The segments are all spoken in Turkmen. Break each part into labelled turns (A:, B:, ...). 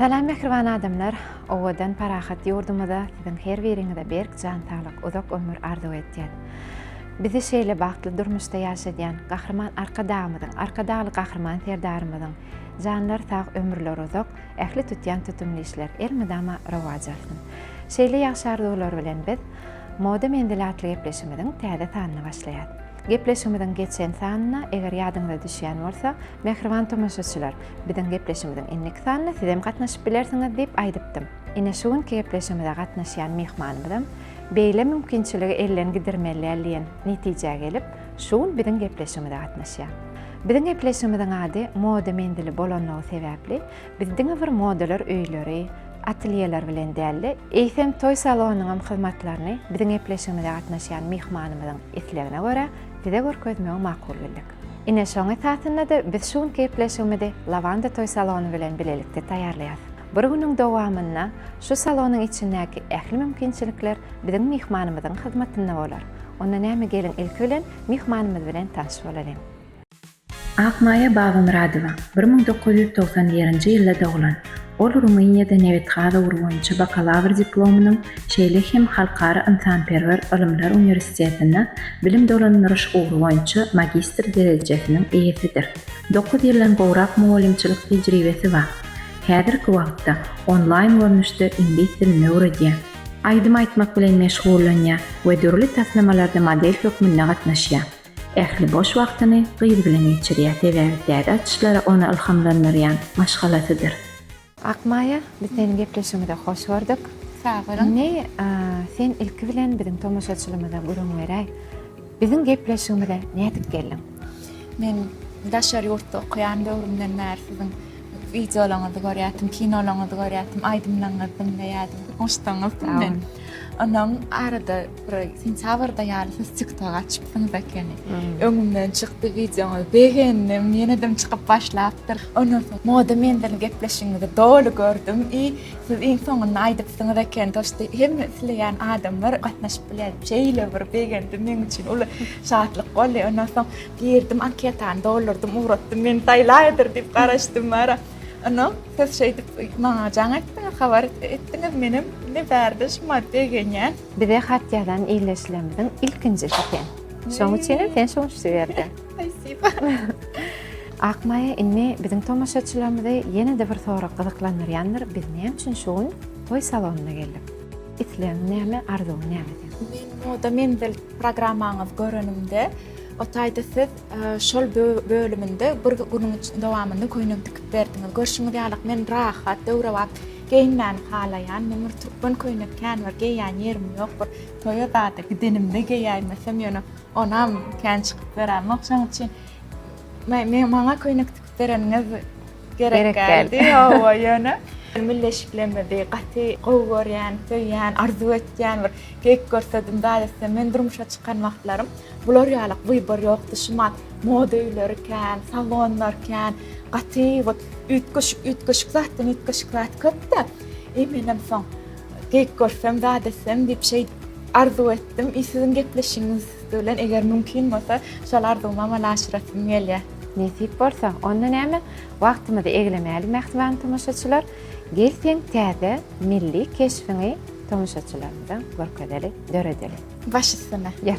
A: Salam mähriban adamlar, owadan parahat ýurdumyza siziň her biriňize berk jan saglyk, uzak ömür arzuw etýän. Bizi şeýle bagtly durmuşda ýaşadýan Gahryman Arkadagymyzyň, Arkadagly Gahryman Serdarymyzyň janlary sag, ömürleri uzak, Ähli tutýan tutumly işler elmydama rowaç alsyn! Şeýle ýagşy arzuwlar bilen biz Moda menzili atly gepleşigimiziň täze sanyny başlaýas. Gepleşigimiziň geçen sanyna eger ýadyňyza düşýän bolsa, mähriban tomaşaçylar, biziň gepleşigimiziň indiki sanyna sizem gatnaşyp bilersiňiz diýip aýdypdym. Ine şu günki gepleşigimize gatnaşýan myhmanymyzam beýle mümkinçiligi elden gidirmeliäl diýen netijä gelip, Şu gün biziň gepleşigimize gatnaşýar. Biziň gepleşigimiziň ady Moda menzili bolanlygy sebäpli, biz diňe bir modalar öýleri, atelýeler bilen däl-de, eýsem toý salonynyňam hyzmatlaryny biziň gepleşigimize gatnaşýan myhmanymyzyň islegine görä size görkezmegi makul bildik. Ine, şoň esasynda-da biz şu günki gepleşigimizi Lawanda toý salony bilen bilelikde taýýarlaýarys. Bir günüň dowamynda şu salonyň içindäki ähli mümkinçilikler biziň myhmanymyzyň hyzmatynda bolar. Onda näme geliň ilki bilen myhmanymyz bilen tanyş bolalyň. Akmaýa Babamyradowa bir müň dokuz ýüz togsan birinji ýylda doglan. Ol Rumyniýada nebit-gaz ugry boýunça bakalawr diplomynyň, şeýle hem Halkara ynsanperwer ylymlar uniwersitetinde bilim dolandyryş ugry boýunça magistr derejesiniň eýesidir. Dokuz ýyldan gowrak mugallymçylyk tejribesi bar. Häzirki wagtda onlaýn görnüşde iňlis dilini öwredýär. Aýdym aýtmak bilen meşgullanýar we dürli taslamalarda model hökmünde gatnaşýar. Ähli boş wagtyny gyz bilen geçirýär, sebäbi täze açyşlara ony ylhamlandyrýan maşgalasydyr. Akmaýa, biz seniň gepleşigiňize hoş gördük. Sag boluň. Indi sen ilki bilen biziň tomaşaçylymyza gürrüň beräý. Biziň gepleşigimize nädip geldiň? Men daşary ýurtda okaýan döwrümden bäri siziň wideolaryňyzy görýärdim, kinolaryňyzy görýärdim, aýdymlaryňyzy diňleýärdim, goşsaňyzdy men. Ondan arada bir sentýabrda ýaly siz TikTok açypsyňyz ekeni. Öňümden çykdy wideoňyz, begendim, ýenedem çykyp başlapdyr. Ondan soň Moda menzili gepleşigiňizi doly gördüm i Siz iň soňunda aýdypsyňyz eken dost hemme isleýän adamlar gatnaşyp bilýär şeýle bir begendi meň üçin uly şatlyk boldy ondan soň girdim anketany doldurdym ugratdym meni saýlaýadyr diýip garaşdym wara ondan siz şeýdip maňa jaň etdiňiz habar etdiňiz menem indi bärde şuma begenýän. Bize hat ýazan ildeşlerimiziň ilkinjisi sen. Şoň üçinem sen şunşy ýerde. Spasiba. Akmaýa indi biziň tomaşaçylarymyzy ýene-de bir sorag gyzyklandyrýandyr, biz näme üçin şu gün toý salonyna geldik? Islegiň näme, arzuwyň näme seň? Men Moda menzil programmaňyzy görenimde, o taýda siz şol bölüminde bir günüň dowamynda köýnek tikip berdiňiz. Görşüňiz ýaly, men rahat, döwrebap geýinmäni halaýan. Men bir türkmen köýnek kän bir geýýän ýerim ýok. Bir toýa zada gidenimde geýäýmesem ýöne Onam kän çykyp beräýmok, şonuň üçin men maňa köýnek tikip bereniňiz gerek geldi. Hawa, ýöne milleşiklemedi. Gaty gowy görýän, söýýän, arzuw etýän bir geýik görsedim, zat etsem, men durmuşa çykan wagtlarym bular ýaly wybor ýokdy. Şumat moda öýleri kän, salonlar kän, gaty wot üýtgeşik-üýtgeşik zatdan üýtgeşik zat köp-de. Eý, menem soň Geýik görsem, zat etsem diýip şeýdip arzuw etdim. I siziň gepleşigiňiz bilen eger mümkin bolsa, şol arzuwymy amala aşyrasym gelýär. Nesip bolsa, onda näme, wagtymyzy eglemäli mähriban tomaşaçylar. Gel seň täze milli keşbiňi tomaşaçylarymyza görkezeli, döredeli. Baş üstüne. Gel.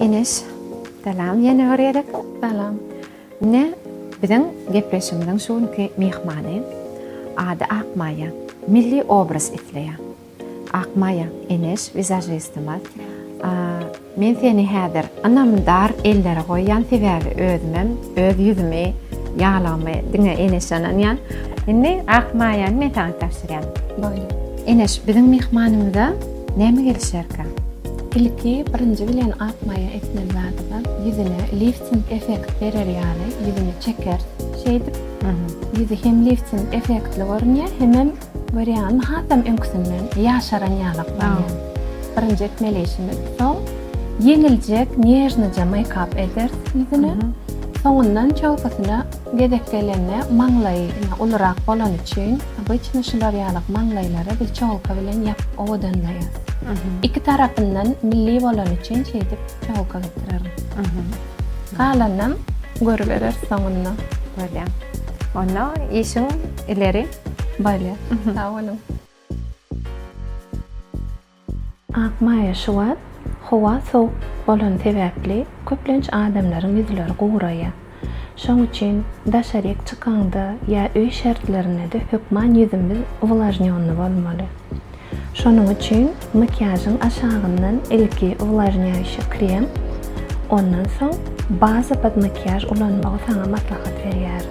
A: Enes, salam ýene bir gezek. Salam. Ine, biziň gepleşigimiziň şu günki myhmany ady Akmaýa. Milli obraz isleýär. Akmaýa, Enes wizažistimiz. Men seni häzir ynamdar ellere goýýan sebäbi özümem öz ýüzümi ýalygymy diňe Enes ynanýan. Indi ak maýany men saňa tabşyrýan. Boldy. Enes biziň myhmanymyza näme gelişerkä? Ilki birinji bilen ak maýa etmeli zadymyz ýüzüne lifting effekt berer ýaly ýüzüne çekeris. Şeýdip ýüzi hem lifting effektli görünýär hemem Görýäňmi, hasam öňküsinden ýaşaran ýalak bolýan. Birinji etmeli işimiz, soň ýeňiljek nežnoja meýkap elteris ýüzüne, soňundan çöwkesine gezek gelende maňlaýy ine ulurak bolany üçin, obyçny şular ýalak maňlaýlary biz çogulka bilen ýapyp owadanlaýarys. Iki tarapyndan milli bolany üçin şeýdip çogulka getirerin. Galanynam görübereris soňunda. Bolýa. Onda işiň ileri. Bolýar. Sag boluň. Akmaýa şu wagt howa sowuk bolany sebäpli köplenç adamlaryň ýüzleri guraýar. Şoň üçin daşaryk çykaňda ýa öý şertlerindede hökman ýüzümiz uwlažnýonny bolmaly. Şonuň üçin makiýažyň aşagyndan ilki uwlažnýaýşy krem, ondan soň baza pod makiýaž ulanmagy saňa maslahat berýärin.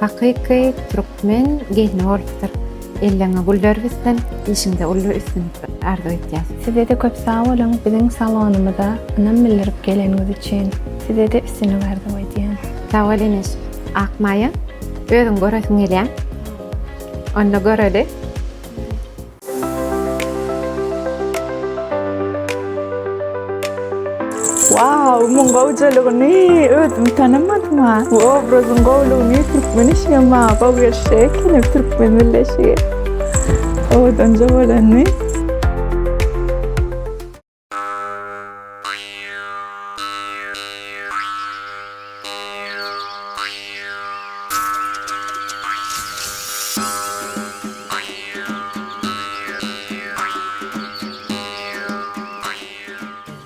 A: Hakyky Türkmen gelni bolupdyr. Elleňe güller bitsin, işiňde uly üstünlik arzuw etýäs. Sizede köp sag boluň biziň salonymyza ynam bildirip geleniňiz üçin. Sizede üstünlik arzuw edýän. Sag bol inis Akmaýa. Özüň göresim gelýä. Onda göreli. Waw muň gowjalygyny özüm tanamadym ha. Bu obrazyň gowlugyny türkmen işigem maňa gowy gelişjek ekeni türkmen milleşigi. Owadan jowalany.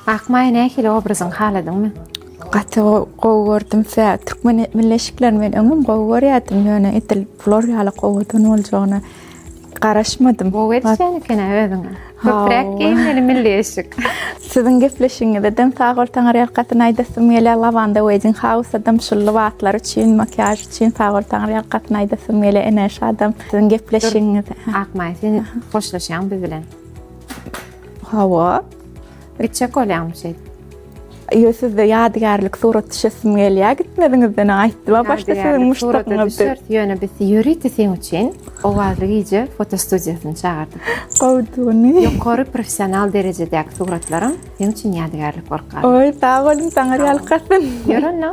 A: Akmaýa nähili obrazyň haladyňmy? Gaty gowy gördüm. Sä türkmen milli eşiklerini men öňem gowy görýärdim, ýöne edil bular ýaly gowadan boljagyna. Garaşmadym. Gowy etýän eken özüňe. Köpräk geýmeli milli eşik. Siziň gepleşigiňize dem sag bol Taňar ýalkasyn aýdasym gelýär Lavanda Wedding House adam şul lybaslary üçin makiýaž üçin sag bol Taňar ýalkasyn aýdasym gelýär Ene şu adam siziň gepleşigiňize Akmaý sen hoşlaşýaň biz bilen. Hawa. Gitjek bolýaňmy şeýt? Ýo sizde ýadygärlik surat düşesim gelýär gitmeziňizden aýtdyma başda siziň muşdagyňyzdy. Ýöne biz ýörite seň üçin owazly gije fotostudiýasyny çagyrdyk. Gowduny. Ýokary professional derejedäki suratlarym seň üçin ýadygärlik bolup galdy. Oý, sag boluň, saňa ýalkasyn. Ýör onda.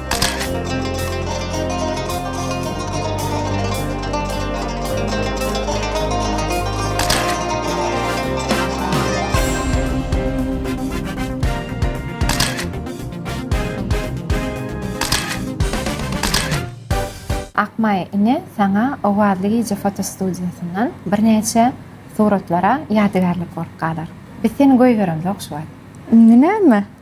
A: Akmaý, ine, saňa Owazly gije fotostudiýasyndan birnäçe suratlar-a ýadygärlik bolup galar. Biz seni goýberemzok şu wagt. Indi näme?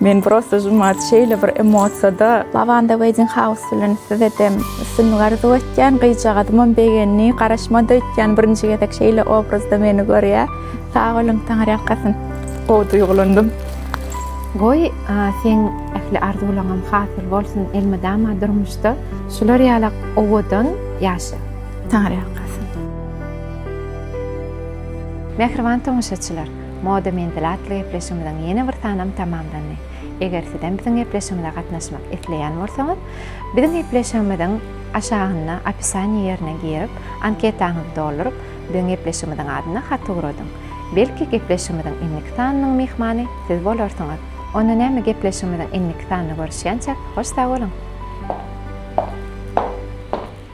A: Men prosta jumat şeýle bir emosiýada. Lavanda wedding house bilen size dem üstünlik arzuw etýän gyzjagazymam begendi garaşmady öýtýän birinji gezek şeýle obrazda meni görýä sag boluň taňar ýalkasyn. Gowy duýgulandym. Goý seň ähli arzuwlaňam hasyl bolsun elmydama durmuşda şular ýala owadan ýaşa. Taňar ýalkasyn. Mähriban tomaşaçylar! Moda Menzil atly gepleşigimiziň ýene bir sanam tamamlandy. Eger sizem biziň gepleşigimize gatnaşmak isleýän bolsaňyz, biziň gepleşigimiziň aşagynda opisaniýa ýerine girip, anketaňyzy dolduryp, biziň gepleşigimiziň adyna hat ugradyň. Belki gepleşigimiziň indiki sanynyň myhmany siz bolarsyňyz. Onda näme gepleşigimiziň indiki sanynda görüşýänçäk hoş sag boluň.